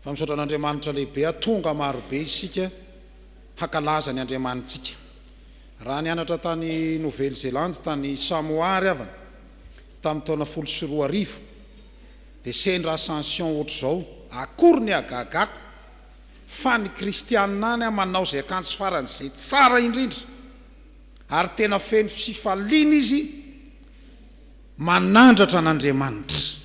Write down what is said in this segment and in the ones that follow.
Fa misaotra an'Andriamanitra lehibe a tonga marobe isika hakalaza ny Andriamanitsika. Raha nianatra tany Nouvelle Zélande tany Samoa ary havana tamin'ny taona folo sy roa arivo dia sendra ascension ohatr'izao akory ny hagagako fa ny kristianina any a manao izay akanjo faran'izay tsara indrindra ary tena feno fifaliana izy Manandratra an'Andriamanitra,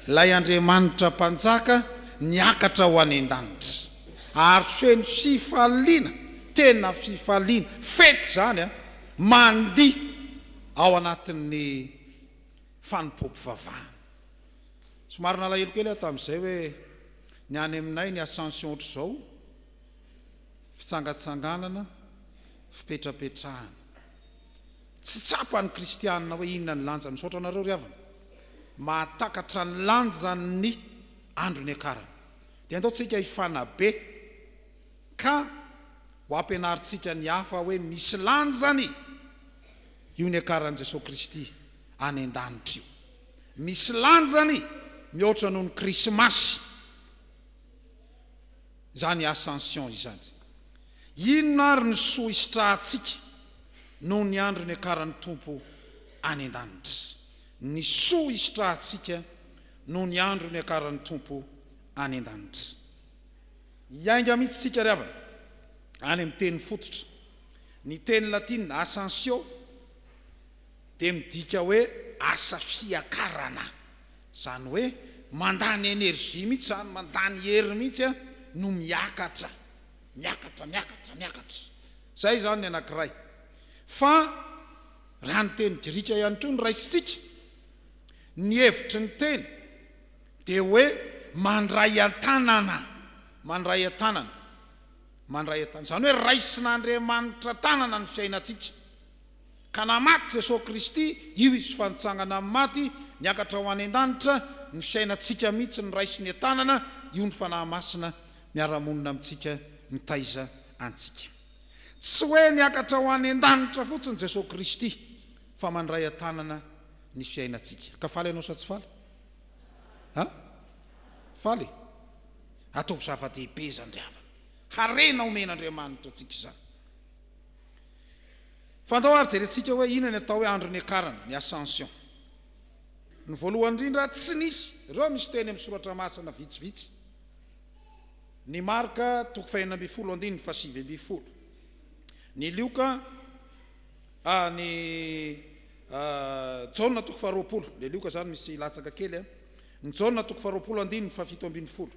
ilay Andriamanitra Mpanjaka niakatra ho any an-danitra, ary feno fifaliana, tena fifaliana, fety izany an, mandihy ao anatin'ny fanompoam-pivavahana. Somary nalahelo kely aho tamin'izay hoe ny any aminay ny Ascension ohatr'izao, fitsangatsanganana, fipetrapetrahana. Tsy tsapa ny kristianina hoe inona ny lanjany. Misaotra anareo ry havana mahatakatra ny lanjan'ny andro niakarany. Dia andao tsika hifanabe ka ho ampianarintsika ny hafa hoe misy lanjany io niakaran'i Jesoa Kristy any an-danitra io. Misy lanjany mihoatra noho ny Krismasy. izany Ascension izany. Inona ary ny soa hisitrahantsika noho ny andro niakaran'ny Tompo any an-danitra? Ny soa hisitrahantsika noho ny andro niakaran'ny Tompo any an-danitra. Hiainga mihitsy isika ry havana any amin'ny teny fototra. Ny teny latina Ascensio. dia midika hoe asa fiakarana, izany hoe mandany energie mihitsy izany, mandany hery mihitsy no miakatra, miakatra, miakatra, miakatra. Izay izany ny anankiray. Fa raha ny teny grika ihany koa no raisintsika, ny hevitry ny teny dia hoe mandray an-tanana, mandray an-tanana, mandray an-tanana, izany hoe raisin'Andriamanitra an-tanana ny fiainantsika, Ka na maty Jesoa Kristy, io Izy fa nitsangana amin'ny maty, niakatra ho any an-danitra, ny fiainantsika mihitsy no raisiny an-tanana, io ny Fanahy Masina miara-monina amintsika, mitaiza antsika. Tsy hoe niakatra ho any an-danitra fotsiny Jesoa Kristy, fa mandray an-tanana ny fiainantsika. Ka faly ianao sa tsy faly? Ha? Faly e? Ataovy zava-dehibe izany ry havana. Harena omen'Andriamanitra antsika izany. Fa andao ary jerentsika hoe inona ny atao hoe andro niakarana, ny Ascension. Ny voalohany indrindra, tsy nisy, ireo misy teny amin'ny soratra masina vitsivitsy. Ny Marka, toko fahenina ambin'ny folo andininy fahasivy ambin'ny folo. Ny Lioka, a, ny a, Jaona toko faharoapolo, le Lioka zany misy latsaka kely a. Ny Jaona toko faharoapolo andininy fahafito ambin'ny folo.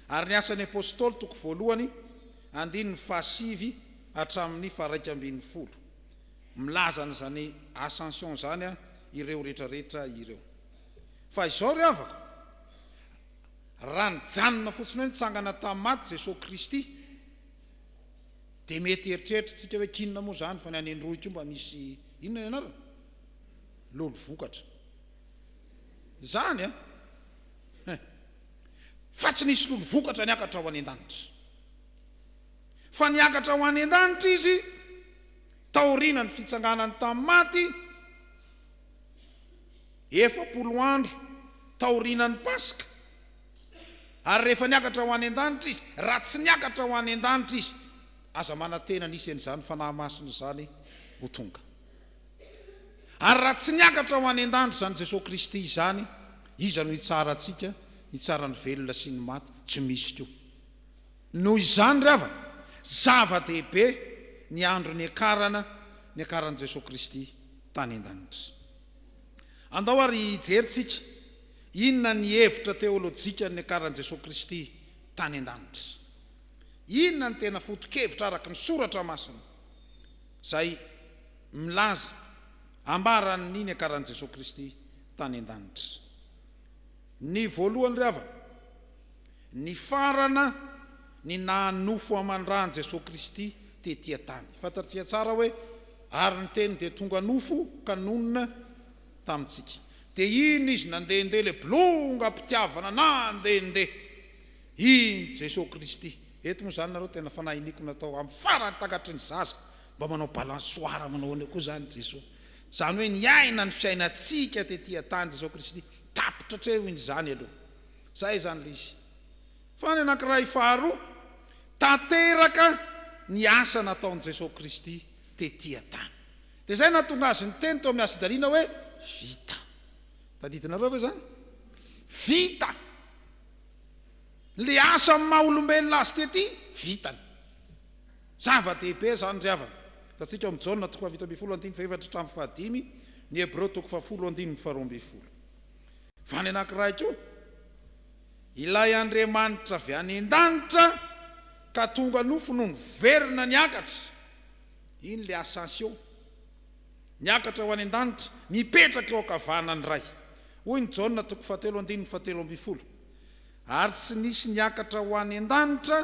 Ary ny Asan'ny Apostoly toko voalohany Andininy fahasivy hatramin'ny faharaika ambin'ny folo, milaza an'izany Ascension izany ireo retraretra ireo. Fa izao ry havako, raha nijanona fotsiny hoe nitsangana tamin'ny maty Jesoa Kristy, dia mety hieritreritrintsika hoe k'inona moa izany fa ny any Androy koa mba misy inona ny anarany? Lolo vokatra. Izany an! fa tsy nisy lolo vokatra niakatra ho any an-danitra, fa niakatra ho any an-danitra izy taorianan'ny fitsanganany tamin'ny maty, efapolo andro taorianan'ny Paska, ary rehefa niakatra ho any an-danitra izy, raha tsy niakatra ho any an-danitra izy, aza manantena nisy an'izany Fanahy Masina izany ho tonga. Ary raha tsy niakatra ho any an-danitra izany Jesoa Kristy izany, iza no hitsara antsika, hitsara ny velona sy ny maty? Tsy misy koa. Noho izany ry havana, zava-dehibe ny andro niakarana, niakaran'i Jesoa Kristy tany an-danitra. Andao ary hijery tsika inona ny hevitra teolojikan'ny niakaran'i Jesoa Kristy tany an-danitra. Inona ny tena foto-kevitra araka ny Soratra Masina? izay milaza ambaran' ny niakaran' i Jesoa Kristy tany an-danitra. Ny voalohany ry havana, nifarana ny naha nofo aman-dra an'i Jesoa Kristy tety an-tany. Fantatrtsika tsara hoe ary ny Teny dia tonga nofo ka nonina tamintsika. Dia iny Izy nandehandeha ilay bolongam-pitiavana nandehandeha. I Jesoa Kristy. Eto moa zany nareo tena fanahy iniako natao am farany takatry ny zaza mba manao balansoara manao ahoana koa zany Jesoa zany hoe niaina ny fiainantsika tety atany Jesoa Kristy tapitra atreho iny zany aloha zay zany le izy fa ny anakiray faharoa tanteraka ny asa nataony Jesoa Kristy tety atany de zay nahatonga azy niteny teo amin'ny hasijaliana hoe vita tadidinareo ve zany vita Le asa amin'ny maha olombelona azy tety vitany. Zava dehibe zany ry havana. Hitantsika ao amin'ny Jaona toko fahafito ambin'ny folo andininy fahefatra hatramin'ny fahadimy, ny Hebreo toko fahafolo andininy faharoa ambin'ny folo. Fa ny anankiray koa, ilay Andriamanitra avy any an-danitra ka tonga nofo no niverina niakatra, iny le ascension. Miakatra ho any an-danitra, mipetraka eo an-kavanan'ny Ray. Hoy ny Jaona toko fahatelo andininy fahatelo ambin'ny folo, Ary tsy nisy niakatra ho any an-danitra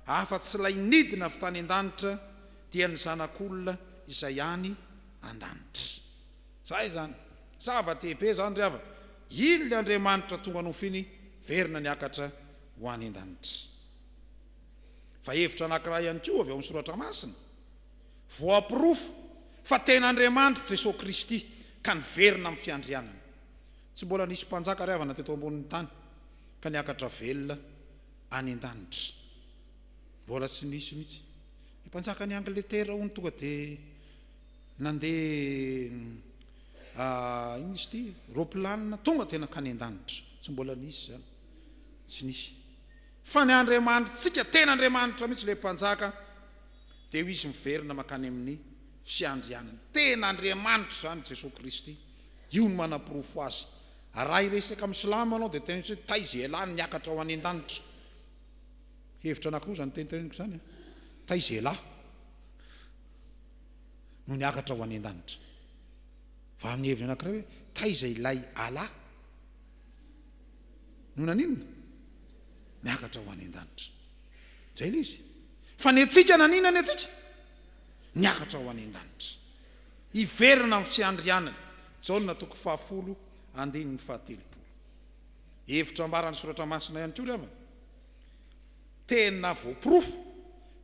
afa-tsy ilay nidina avy tany an-danitra, dia ny Zanak'olona izay any an-danitra. Izay izany. Zava-dehibe izany ry havana. Iny ilay Andriamanitra tonga nofiny verina niakatra ho any an-danitra. Fa hevitra anankiray ihany koa avy ao amin'ny Soratra Masina. Voaporofo fa tena Andriamanitr' i Jesoa Kristy ka niverina amin'ny fiandrianany. Tsy mbola nisy mpanjaka riavana teto ambonin'ny tany ka niakatra velona any an-danitra. Mbola tsy nisy mihitsy. Ny mpanjakan'i Angletera hono tonga dia nandeha inona izy ity? Ropilanina tonga dia nankany an-danitra. Tsy mbola nisy izany. Tsy nisy. Fa ny Andriamanitrtsika, tena Andriamanitra mihitsy ilay mpanjaka. dia ho izy miverina mankany amin'ny fiandrianany. Tena Andriamanitra izany Jesoa Kristy. Io no manaporofo azy. Raha hiresaka amin'ny silamo ianao dia teneno hoe taiza ialahy no miakatra ho any an-danitra. Hevitra anankiroa izany teniteneniko izany an. Taiza ialahy no niakatra ho any an-danitra. Fa amin'ny heviny anankiray hoe taiza ilay Allah no naninona? Niakatra ho any an-danitra. Izay ilay izy. Fa ny antsika naninona ny antsika? Niakatra ho any an-danitra. Hiverina amin'ny fiandrianany. Jaona toko fahafolo andininy fahatelopolo. Hevitra ambaran'ny soratra masina ihany koa ry havana. Tena voaporofo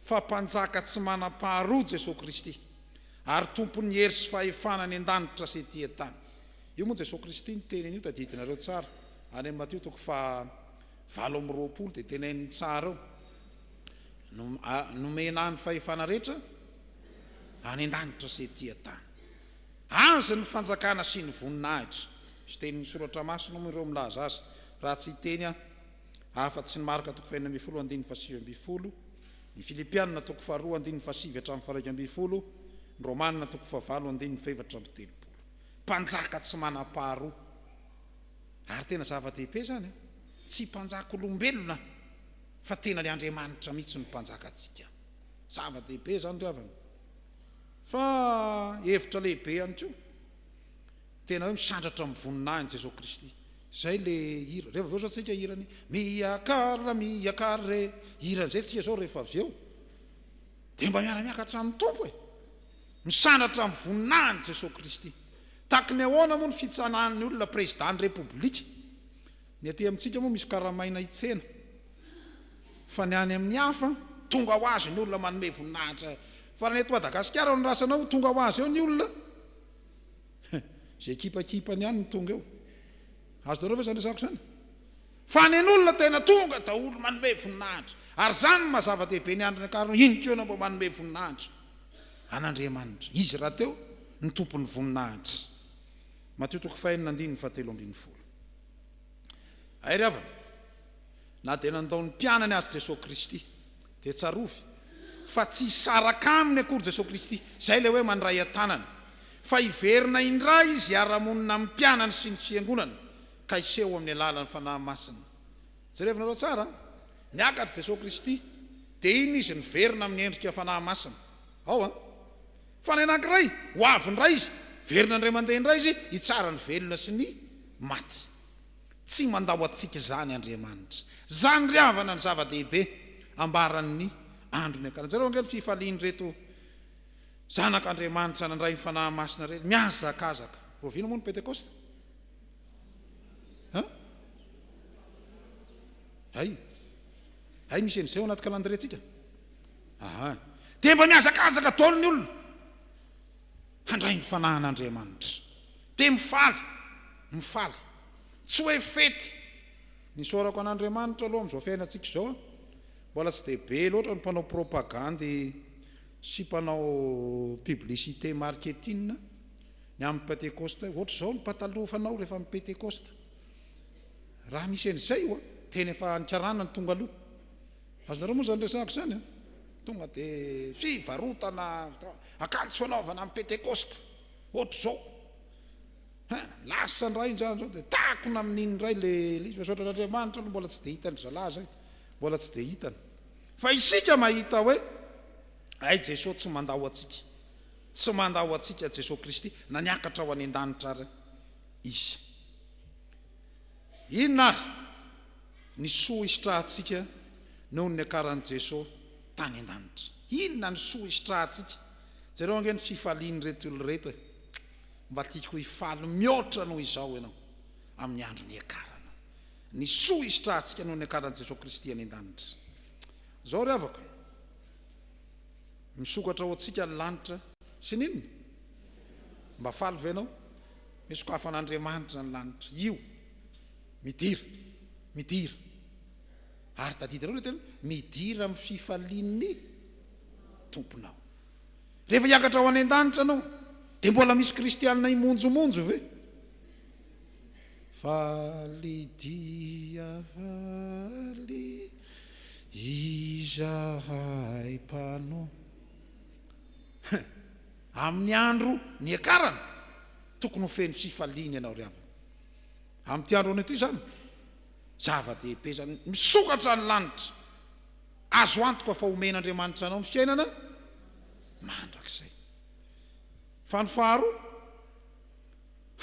fa mpanjaka tsy manam-paharoa Jesoa Kristy ary tompon'ny hery sy fahefana any an-danitra sy ety an-tany. Io moa Jesoa Kristy niteny an'io tadidinareo tsara any amin'ny Matio toko faha. valo amby roapolo dia tenenin'ny tsara eo no nomena ahy ny fahefana rehetra any an-danitra sy ety an-tany. Azy ny fanjakana sy ny voninahitra. Misy tenin'ny soratra masina moa ireo milaza azy raha tsy hiteny aho afa tsy ny Marka toko fahenina ambin'ny folo andininy fahasivy ambin'ny folo, ny Filipianina toko faharoa andininy fahasivy hatramin'ny faharaika ambin'ny folo, ny Romanina toko fahavalo andininy fahefatra amby telopolo. Mpanjaka tsy manam-paharoa. Ary tena zava-dehibe izany an! Tsy mpanjak'olombelona fa tena ilay Andriamanitra mihitsy no mpanjaka antsika. Zava-dehibe izany ry havana. Fa hevitra lehibe ihany koa, tena hoe misandratra amin'ny voninahiny Jesoa Kristy. Izay ilay hira. Rehefa avy eo izao tsika hira ny Miakara, miakara re. Hira an'izay tsika izao rehefa avy eo. Dia mba miara-miakatra amin'ny Tompo e! Misandratra amin'ny voninahin'i Jesoa Kristy. Tahaky ny ahoana moa ny fitsanahan'ny olona Prezidàn'ny Repoblika? Ny aty amintsika moa misy karamaina hitsena, fa ny any amin'ny hafa, tonga ho azy ny olona manome voninahitra fa raha ny eto Madagasikara no raisana ao, tonga ho azy eo ny olona, izay kipakipany ihany no tonga eo. Azonareo ve izany resahako izany? Fa ny an'olona tena tonga daholo manome voninahitra. Ary izany no maha zava-dehibe ny andron'ny ankarana, inona koa ianao mba manome voninahitra? an'Andriamanitra. Izy rahateo no tompon'ny voninahitra. Matio toko fahenina andininy fahatelo ambin'ny folo. Hay ry havana, na dia nandao ny mpianany azy Jesoa Kristy, dia tsarovy fa tsy hisaraka aminy akory Jesoa Kristy, izay ilay hoe mandray an-tanana, fa hiverina indray Izy hiara-monina amin'ny mpianany sy ny Fiangonana, ka hiseho amin'ny alalan'ny Fanahy Masina. Jerevinareo tsara, Niakatra Jesoa Kristy, dia iny Izy niverina amin'ny endrika Fanahy Masina. Ao an. Fanahy anankiray, ho avy indray Izy, hiverina indray mandeha indray Izy, hitsara ny velona sy ny maty. Tsy mandao antsika izany Andriamanitra. Izany ry havana ny zava-dehibe ambaran'ny andro niakarany. Jereo ange ny fifalian'ireto zanak'Andriamanitra nandray ny Fanahy Masina ireto, mihazakazaka. Rahoviana moa ny Pentekosta? Ha? Hay. Hay misy an'izay ao anaty calendrier-tsika. Aha. Dia mba mihazakazaka daholo ny olona handray ny fanahin'Andriamanitra. Dia mifaly, mifaly. Tsy hoe fety. Ny isaorako an'Andriamanitra aloha amin'izao fiainantsika izao an, mbola tsy dia be loatra ny mpanao propagandy sy mpanao publicité marketing. Ny amin'ny Pentekosta, ohatra izao ny pataloha fanao rehefa amin'ny Pentekosta. Raha misy an'izay io an, tena efa ny karana no tonga aloha. Azonareo moa izany resahako izany an? Tonga dia fivarotana akanjo fanaovana amin'ny Pentekosta, ohatra izao. Ha, lasa indray izany izao dia takona amin'iny indray ilay izy. Misaotra an'Andriamanitra aloha mbola tsy dia hitan'ny zalahy izay, mbola tsy dia hitany. Fa isika mahita hoe hay Jesoa tsy mandao antsika. Tsy mandà ho antsika Jesoa Kristy na niakatra ho any an-danitra ary Izy. Inona ary ny soa hisitrahantsika noho ny niakaran'i Jesoa tany an-danitra? Inona ny soa hisitrahantsika? Jereo ange ny fifalian'ireto olona ireto e! Mba tiako hifaly mihoatra noho izao ianao amin'ny andro niakarana. Ny soa hisitrahantsika noho ny niakaran'i Jesoa Kristy any an-danitra. Izao ry havako. Misokatra ho antsika ny lanitra sy ny inona? Mba faly ve ianao? Nosokafan'Andriamanitra ny lanitra. Io. Midira. Midira. Ary tadidinao ilay teny hoe, midira amin'ny fifalian'ny Tomponao. Rehefa hiakatra ho any an-danitra ianao, dia mbola misy kristianina himonjomonjo ve? Faly dia faly izahay mpanao. Hein! Amin'ny andro niakarana, tokony ho feno fifaliana ianao ry havana. Amin'ity andro anio ity izany, zava-dehibe izany. Misokatra ny lanitra. Azo antoka fa homen'Andriamanitra anao ny fiainana mandrakizay. Fa ny faharoa?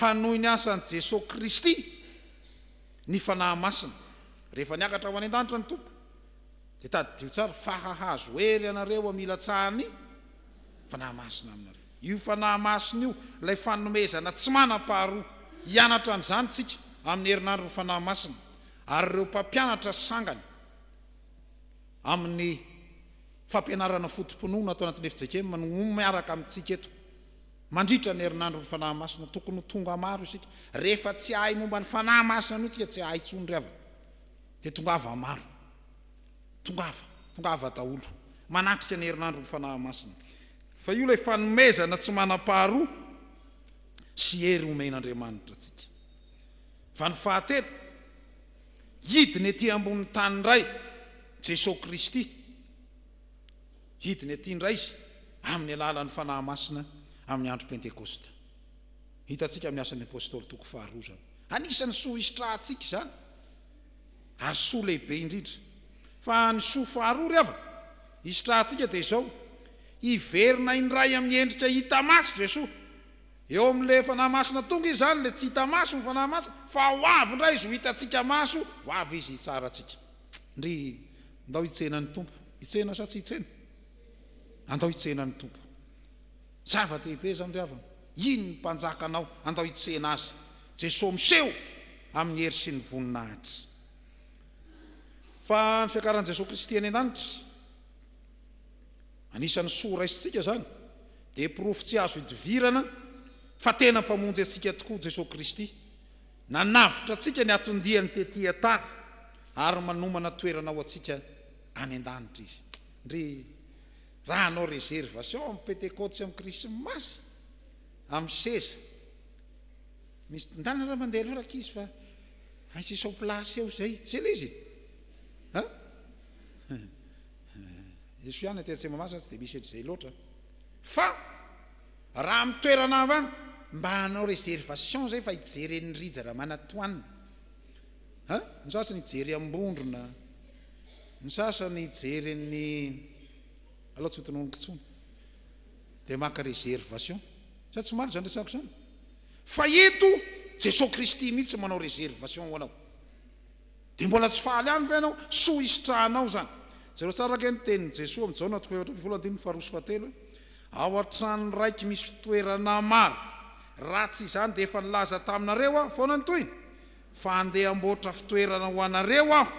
Hanohy ny asan'i Jesoa Kristy ny Fanahy Masina. Rehefa niakatra ho any an-danitra ny Tompo, dia tadidio tsara fa hahazo hery ianareo amin'ny hilatsahan'ny Fanahy Masina aminareo. Io Fanahy Masina io ilay fanomezana tsy manam-paharoa. Hianatra an'izany isika amin'ny herinandron'ny Fanahy Masina ary ireo mpampianatra sangany amin'ny fampianarana foto-pinoana ato anatin'ny Efijekem no miaraka amintsika eto. Mandritra ny herinandron'ny Fanahy Masina tokony ho tonga maro isika. Rehefa tsy hahay momba ny Fanahy Masina noho isika tsy hahay intsony ry havana. Dia tongava maro. Tongava. Tongava daholo. Manatrika ny herinandron'ny Fanahy Masina. Fa io ilay fanomezana tsy manam-paharoa sy hery omen'Andriamanitra antsika. Fa ny fahatelo, hidina ety ambonin'ny tany indray Jesoa Kristy. Hidiny aty indray Izy amin'ny alalan'ny Fanahy Masina amin'ny Andro Pentekosta. Hitantsika amin'ny Asan'ny Apostoly toko faharoa izany. Anisan'ny soa hisitrahantsika izany, ary soa lehibe indrindra. Fa ny soa faharoa ry havana hisitrahantsika dia izao, hiverina indray amin'ny endrika hita maso Jesoa. Eo amin'ilay Fanahy Masina tonga Izy izany, ilay tsy hita maso ny Fanahy Masina, fa ho avy indray Izy ho hitantsika maso, ho avy Izy hitsara antsika. Ndrii. Ndao hitsena ny Tompo. Hitsena sa tsy hitsena? Andao hitsena ny Tompo. Zava-dehibe izany ry havana. Iny ny Mpanjakanao. Andao hitsena Azy. Jesoa miseho amin'ny hery sy ny voninahitra. Fa ny fiakaran'i Jesoa Kristy any an-danitra, anisan'ny soa raisintsika izany, dia porofo tsy azo idivirana fa tena Mpamonjy antsika tokoa Jesoa Kristy. Nanavotra antsika ny hatondiany tetỳ an-tany, ary manomana toerana ho antsika any an-danitra izy. Ndry, raha hanao reservation amin'ny Pentekoty sy amin'ny Krismasy, amin'ny seza, misy mpitondana raha mandeha aloha rankizy fa aisy sur place eo izay. Tsy ela izy e! An? Esoy ihany aty Antsemamahazo tsy dia misy an'izay loatra. Fa. Raha amin'ny toerana hafa any mba hanao réservation zay fa hijery an'i Rija Ramanatoanina a! ny sasany hijery Ambondrona, ny sasany hijery an'i alao tsy ho tononiko intsony dia maka réservation sa tsy marina zany resako zany? fa eto Jesoa Kristy mihitsy manao réservation ho anao. Dia mbola tsy faly ihany ve ianao? Soa hisitrahanao izany. Jereo tsara ange ny tenin'i Jesoa amin'i Jaona toko efatra ambin'ny folo andininy faharoa sy fahatelo hoe, Ao an-trano raiky misy fitoerana maro, raha tsy izany dia efa nilaza taminareo Aho foana ny tohiny, fa handeha hamboatra fitoerana ho anareo Aho,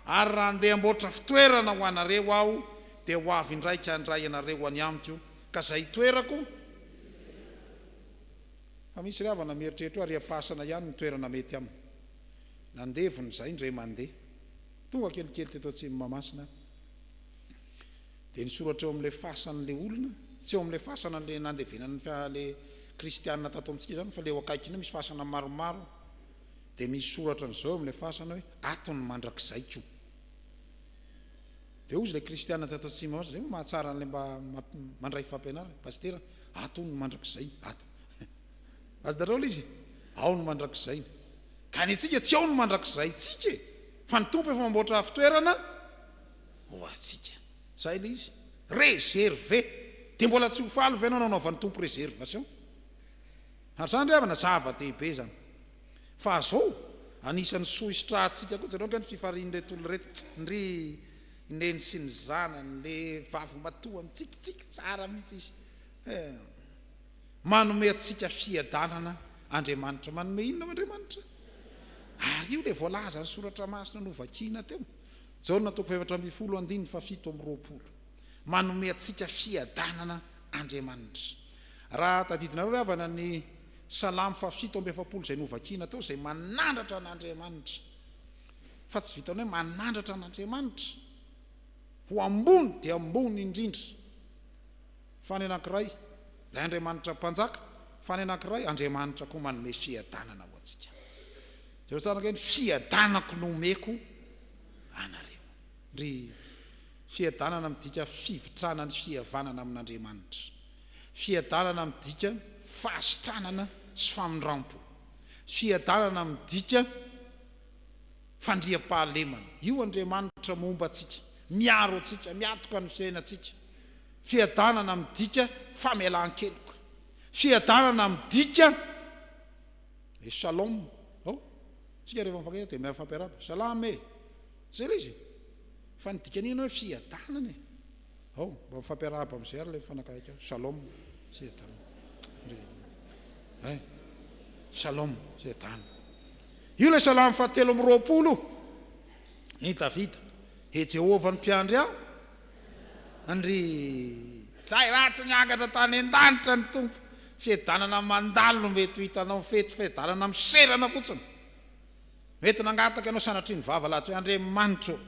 ary raha handeha hamboatra fitoerana ho anareo Aho, dia ho avy indraika handray anareo any Amiko, ka izay hitoerako. Fa misy ry havana mieritreritra hoe ariam-pasana ihany no toerana mety aminy. Nandevona izay indray mandeha, tonga kelikely teto atsimo Mahamasina aho. Dia nisoratra eo amin'ilay fasana ilay olona, tsy eo amin'ilay fasana ilay nandevenana ny fiara ilay kristiana tato amintsika izany fa ilay eo akaikiny eo misy fasana maromaro. Dia misy soratra an'izao eo amin'ilay fasana hoe ato ny mandrakizaiko. Dia hozy ilay kristiana tato atsimo Mahamasina, izay moa mahatsara an'ilay mba mandray fampianarana, pasitera, ato hono ny mandrakizay, ato. Azy daholo izy e! Ao ny mandrakizay ny. Ka ny antsika tsy ao ny mandrakizay tsika e! Fa ny Tompo efa mamboatra fitoerana ho antsika. Zay le izy. Reserve. Dia mbola tsy ho faly ve anao nanaovan'ny Tompo reservation? Ary zany ry havana zava-dehibe zany. Fa zao, anisan'ny soa hisitrahantsika koa jereo ange ny fifarian'ireto olona ireto, ndry Neny sy ny zanany, le vavimatoa mitsikitsiky tsara mihitsy izy. Eh. Manome antsika fiadanana Andriamanitra. Manome inona ao Andriamanitra? Ary io ilay voalazan'ny soratra masina novakina teo, Jaona toko fahefatra ambin'ny folo andininy fahafito amby roapolo. Manome antsika fiadanana Andriamanitra. Raha tadidinareo ry havana ny Salamo fahafito amby efapolo izay novakina teo, izay manandratra an'Andriamanitra, fa tsy vitan'ny hoe manandratra an'Andriamanitra ho ambony dia ambony indrindra. fa ny anankiray, ilay Andriamanitra Mpanjaka, fa ny anankiray, Andriamanitra koa manome fiadanana ho antsika. Jereo tsara ange ny fiadanako no omeko anareo. Ry fiadanana midika fivitrana ny fihavanana amin'Andriamanitra. Fiadanana midika fahasitranana sy famindrampo. Fiadanana midika fandriampahalemana. Io Andriamanitra momba antsika, miaro antsika, miatoka ny fiainantsika. Fiadanana midika famelan-keloka. Fiadanana midika le shalom ao. Isika rehefa mifankahita dia mifampiarahaba, salam e! Tsy izay ilay izy e! Fa ny dikany iny hoe fiadanana e! Ao, mba mifampiarahaba amin'izay ary ilay mifanakaiky ao. Shalom, fiadanana. Hay, shalom, fiadanana. Io ilay salamo fahatelo amby roapolo io. I Davida, E Jehovah ny mpiandry ahy, Andri. Zay ratsy miangatra tany an-danitra ny Tompo, fiadanana mandalo no mety ho hitanao fety, fiadanana miserana fotsiny mety nangataka anao sanatria ny vava lahatry hoe Andriamanitra ô,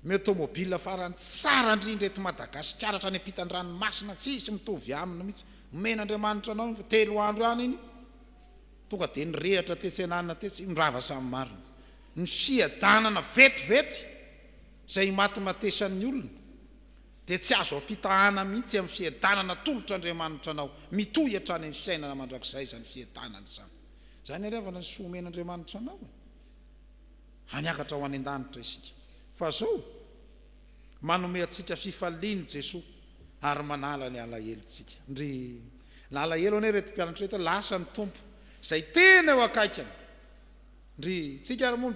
ny automobile farany tsara indrindra eto Madagasikara hatrany ampitan-dranomasina tsisy mitovy aminy mihitsy, omen'Andriamanitra anao iny fa telo andro ihany iny tonga dia nirehatra tetsy an'anona tetsy, io ny rava samy marina, ny fiadanana vetivety izay imatimatesan'ny olona, dia tsy azo ampitahana mihitsy amin'ny fiadanana atolotr' Andriamanitra anao, mitohy hatrany amin'ny fiainana mandrakizay izany fiadanana izany. Izany ary havana ny soa omen' Andriamanitra anao e! Hany hiakatra ho any an-danitra isika. Fa izao, manome antsika fifaliana i Jesoa ary manala ny alahelontsika. Ndry! Na alahelo anie ireto mpianatra ireto hoe lasa ny Tompo izay tena eo akaikiny. Ndry! Tsika ary moa?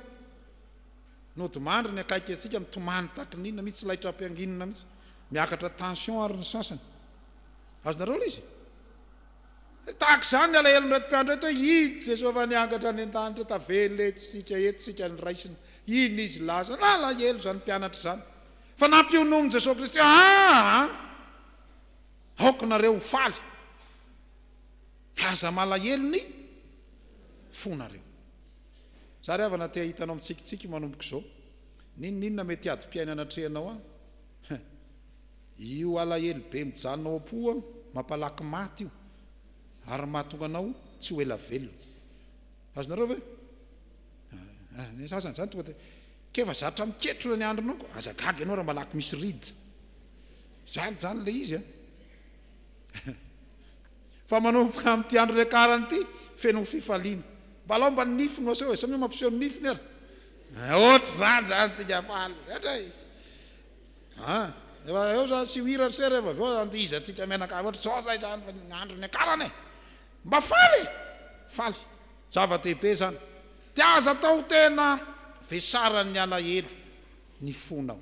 Nodimandry ny akaiky antsika mitomany takin'inona mihitsy laitra ampianginina mihitsy. Miakatra tension ary ny sasany. Azonareo ilay izy e? Tahaka izany ny alahelon'ireto mpiandry ireto hoe i Jesoava niangatra any an-danitra tavela eto isika eto isika ny raisiny iny izy laza na alahelo izany mpianatra izany fa nampiononin'i Jesoa Kristy aa aoka nareo ho faly fa aza malahelo ny fonareo Zary havana te hahita anao mitsikitsiky manomboka izao. N'inon'inona mety adim-piaina anatrehanao an! Huh! Io alahelo be mijanona ao am-po an, mampalaky maty io ary mahatonga anao tsy ho ela velona. Azonareo ve? Ah, ny sasany izany tonga dia k'efa zatra miketrona ny andronao koa. Aza gaga ianao raha malaky misy rida. Zany izany ilay izy an! Fa manomboka amin'ity andro niakarany ity, feno fifaliana. Mba laomba ny nify no aseho e! Samia mampiseho ny nifiny ary. Ohatr'izany izany tsika faly. Hatray! A! Efa eo izany asio hira ry se rehefa avy eo andihizantsika mianakavy. Ohatr'izao izay izany ny andro niakarany e! Mba faly e! Faly. Zava-dehibe izany. Dia aza atao tena vesaran'ny alahelo ny fonao.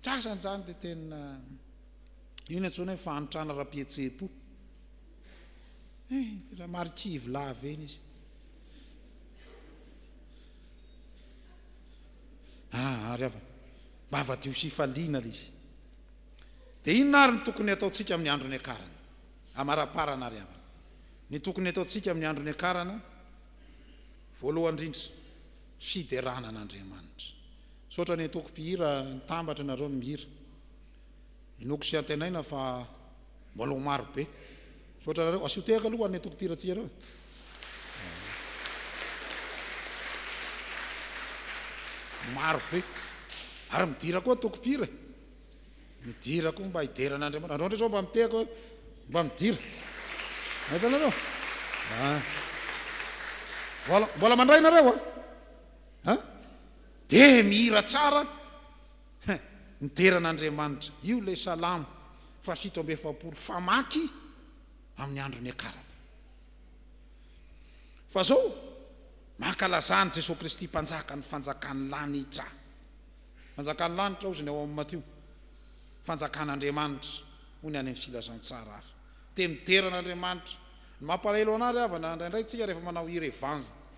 Ny sasany izany dia tena. Io no antsoina hoe fahantrana ara-pihetseham-po. Eh, raha marikivy lava eny izy. Ah, ary havana. Mba havadio sy hifaliana ilay izy. Dia inona ary ny tokony hataontsika amin'ny andro niakarana? Amaraparana ary havana. Ny tokony hataontsika amin'ny andro niakarana, voalohany indrindra, fiderana an'Andriamanitra. Misaotra ny antokom-pihira, nitambatra ianareo ny mihira. Inoako sy antenaina fa mbola ho maro be. Misaotra anareo. Asio tehaka aloha ho an'ny Antoko Tia Ratsiareo e. Maro be. Ary midira koa Antokom-pira e. Midira koa mba hidera an'Andriamanitra. Andreo ndray zao mba mitehaka hoe mba midira. Mahita anareo? Ah. Mbola, mbola mandray nareo a? An? Dia mihira tsara Hein! Midera an'Andriamanitra. Io ilay Salamo fahafito amby efapolo famaky amin'ny andro niakarana. Fa zao, mankalazà an'i Jesoa Kristy Mpanjaka ny fanjakan'ny lanitra. Fanjakan'ny lanitra hozy ny ao amin'ny Matio. Fanjakan'Andriamanitra hoy ny any amin'ny Filazantsara hafa. Te midera an'Andriamanitra. Ny mampalahelo anah ry havana, indraindray tsika rehefa manao hira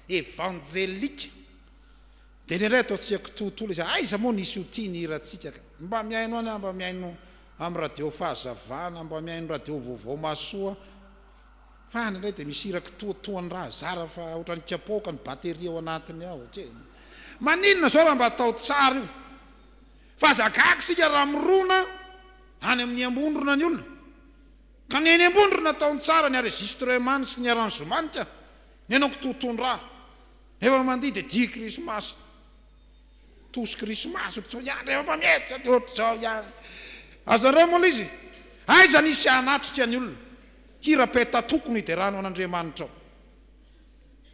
evangelique. Dia indraindray atao tsy haiko toa tolo izy, aiza moa nisy ho tia ny hirantsika ka. Mba mihaino any aho, mba mihaino amin'ny radio Fahazavana, mba mihaino radio Vaovao Mahasoa fa any indray dia misy hira kitoa toa ny raha zara fa ohatran'ny kapoaka ny batterie ao anatiny ao. Tsia. Maninona izao raha mba atao tsara io fa aza gaga isika raha mirona any amin'ny Ambondrona ny olona ka ny eny Ambondrona ataony tsara ny arregistrement sy ny arrangement ka ny anao kitoa toa ny raha. Rehefa mandihy dia dihy krismasy, tosy krismasy ohatr'izao ihany, rehefa mpametsika dia ohatr'izao ihany. Azonareo mola izy? Aiza nisy hanatrika ny olona? Hira peta-toko no hiderana ao an'Andriamanitra ao.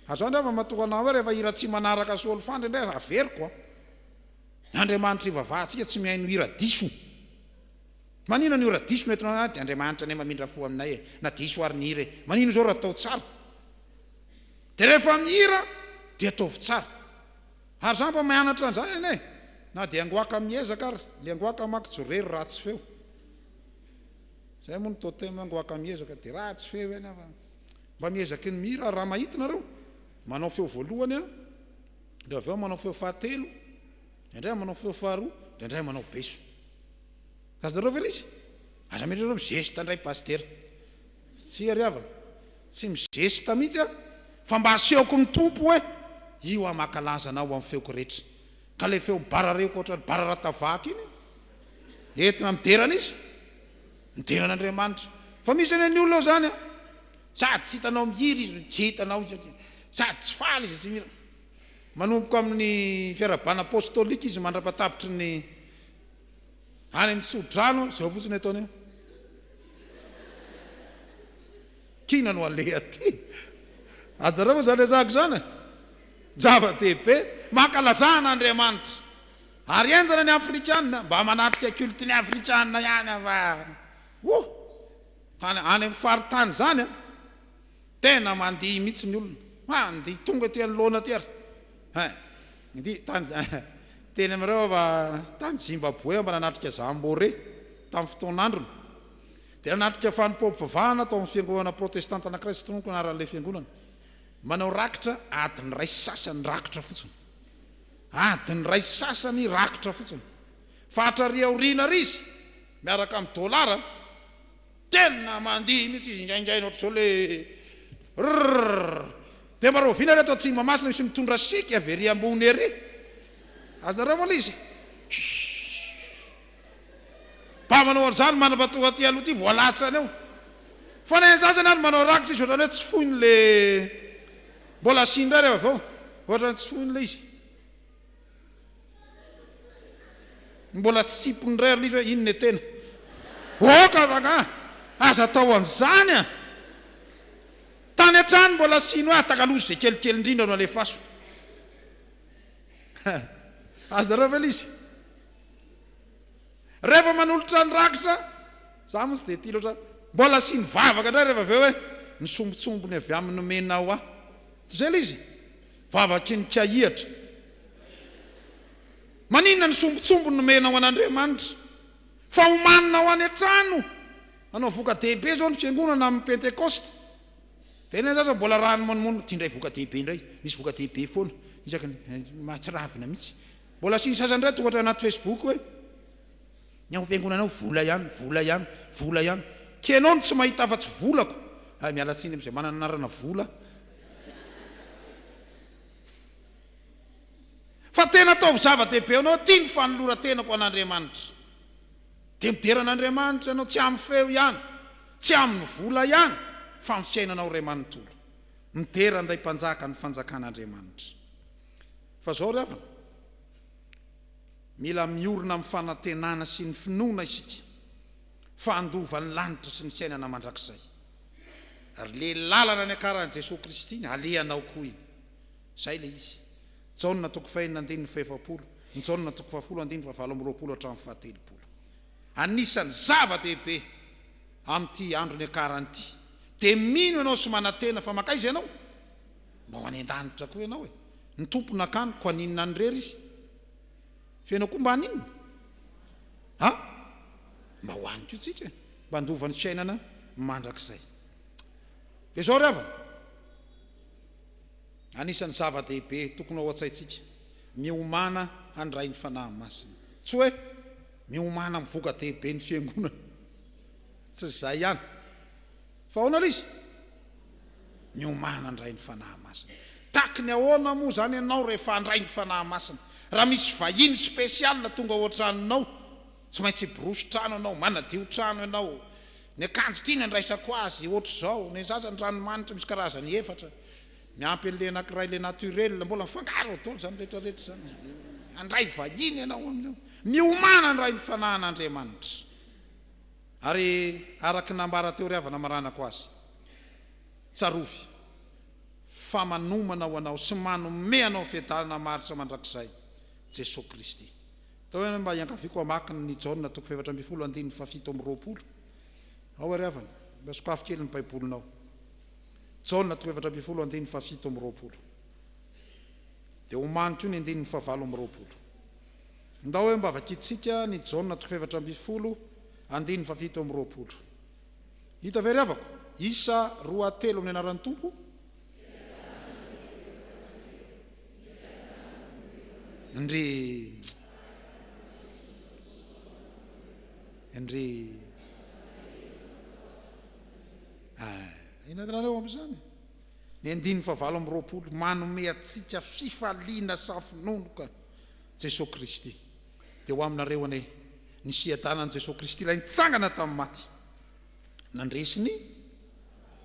Ary izao indray vao matoa anao hoe rehefa hira tsy manaraka solfandry indray aza averiko an! Ny Andriamanitra ivavahantsika tsy mihaino hira diso. Maninona ny hira diso no entinao? Dia Andriamanitra anie mamindra fo aminay e! Na diso ary ny hira e! Maninona izao raha atao tsara? De rehefa mihira de ataovy tsara. Ary za mba mianatra anzany anie e! Na dia ngoaka miezaka ary, le ngoaka manko tsy rery ratsy feo. Zay moa ny totem hoe ngoaka miezaka de ratsy feo eny an! Mba miezaky ny mihira ary raha mahita nareo manao feo voalohany an! Ndra avy eo manao feo fahatelo, ndraindray manao feo faharoa, ndraindray manao beso. Azonareo ve le izy? Aza mieritreritra hoe mi-geste ndray pasitera. Tsia ry havana, tsy mizesta mihitsy aho fa mba asehoko ny Tompo hoe io aho mankalaza Anao amin'ny feoko rehetra. Ka ilay feo barareoka ohatran'ny bararata vaky iny entina midera an'iza? Midera an'Andriamanitra. Fa misy anie ny olona izany an! Sady tsy hitanao mihira izy no tsy hitanao izy aty. Sady tsy faly izy no tsy mihira. Manomboka amin'ny fiarahabana apostolika izy mandrapatabitry ny. Any amin'ny tsodrano, zao fotsiny ataony eo. Kina no aleha aty. Ajareo izany resako izany e. Zava-dehibe. Mankalazana Andriamanitra. Ary henjana ny afrikana mba manatrika culte ny afrikana ihany fa oh! Tany any amin'ny faritany izany a. Tena mandihy mihitsy ny olona. Mandihy tonga aty anoloana aty ary. Hein. Mandihy. Tany teny amin'ireo aho fa tany Zimbabwe aho mba nanatrika Zambore tamin'ny fotoan'androny. Dia nanatrika fanompoam-pivavahana tao amin'ny fiangonana protestanta anankiray tsy tononiko ny anaran'ilay fiangonana. Manao rakitra adiny iray sy sasany rakitra fotsiny. Adiny iray sy sasany rakitra fotsiny. Fatrary aoriana ary izy miaraka amin'ny dolara. Tena mandihy mihitsy izy ingaingainy ohatr'izao le rrrrrr! Dia mba rahoviana ary ato Antsimamasina misy mitondra siky avy ery ambony ery? Azonareo aloha izy eh! Mba manao an'izany manambato aty aloha aty vao latsany eo. Fa na ian'izany azany ary manao rakitra izy ohatrany hoe tsy foiny le mbola asiany indray rehefa avy eo, ohatrany tsy foiny le izy. Mbola tsy sipony indray ary live inn e tena oka rangah aza atao an'izany a! Tany hatrany mbola asino ahy takalosy ze kelikely indrindra no alefaso ha! Azonareo ve lisy? Rehefa manolotra ny rakitra za moa tsy dia tia loatra mbola asino vavaka indray rehefa avy eo hoe misombotsombony avy amin'ny nomenao ahy toy izay lisy? Vavaky ny kiahihatra. Maninona ny sombintsombiny nomenao an' Andriamanitra? Fa homaninao any an-trano hanao voka-dehibe izao ny Fiangonana amin'ny Pentekosta. Dia ilay zaza mbola rano monomono, dia indray voka-dehibe indray, misy voka-dehibe foana isaky ny, mahatsiravina mihitsy. Mbola asiany sasany indray tonga hatrany anaty Facebook hoe, ny ao am-piangonanao vola ihany, vola ihany, vola ihany. K'enao no tsy mahita afa-tsy volako. Hay miala tsiny amin'izay manana anarana vola. Fa tena ataovy zava-dehibe ho anao ity ny fanoloran-tenako ho an'Andriamanitra. Dia midera an'Andriamanitra ianao, tsy amin'ny feo ihany, tsy amin'ny vola ihany, fa amin'ny fiainanao iray manontolo. Midera an'ilay Mpanjaka ny Fanjakan'Andriamanitra. Fa izao ry havana, mila miorina amin'ny fanantenana sy ny finoana isika fa handova ny lanitra sy ny fiainana mandrakizay. ary le lalana niakaran'i Jesoa Kristy iny alehanao koa iny. Zay le izy. Jaona toko fahenina andininy fahefapolo, ny Jaona toko fahafolo andininy fahavalo amby roapolo hatramin'ny fahatelopolo. Anisan'ny zava dehibe amin'ity andro niakarany ity de mino ianao sy manantena fa mankaiza ianao? Mba ho any an-danitra koa ianao e! Ny Tompo nakany ko aninona any rery izy? Fa ianao koa mba haninona? Ha? Mba ho any koa tsika e. Mba handova ny fiainana mandrakizay. Dia izao ry havana, anisan'ny zava-dehibe tokony ao an-tsaintsika, miomàna handray ny Fanahy Masina. Tsy hoe miomàna amin'ny voka-dehiben'ny Fiangonana. Tsy izay ihany. Fa ahoana ilay izy? Miomàna handray ny Fanahy Masina. Tahaky ny ahoana moa izany ianao rehefa handray ny Fanahy Masina? Raha misy vahiny spécial tonga ao an-tranonao, tsy maintsy hiborosy trano ianao, manadio trano ianao, ny akanjo tiany andraisako azy hoatr'izao, ny sasany ranomanitra misy karazany efatra, miampy an'ilay anankiray ilay naturel, mbola mifangaro ao daholo izany rehetra rehetra izany. Handray vahiny ianao amin'io. Miomàna handray ny Fanahin'Andriamanitra. Ary araka ny nambara teo ry havana maranako azy, tsarovy fa manomana ho anao sy manome anao fiadanana maharitra mandrakizay Jesoa Kristy. Atao hoe mba iangaviako hamaky ny Jaona toko fahefatra ambin'ny folo andininy fahafito amby roapolo ao ary havana, mba sokafy kely ny Baibolinao. Jaona toko fahefatra ambin'ny folo andininy fahafito amby roapolo. Dia omaniko io ny andininy fahavalo amby roapolo. Ndao eo mba vakintsika ny Jaona toko fahefatra ambin'ny folo, andininy fahafito amby roapolo. Hita ve ry havako? Isa roa telo amin'ny anaran'ny Tompo? Ndry. Ndry. Ah, inona ny rahanao amin'izany? Ny andininy fahavalo amby roapolo manome antsika fifaliana safinonoka. Jesoa Kristy. Dia ho aminareo anie ny fiadanan'i Jesoa Kristy Ilay nitsangana tamin'ny maty, nandresy ny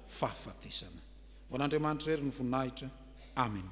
fahafatesana. Ho an'Andriamanitra irery ny voninahitra. Amena.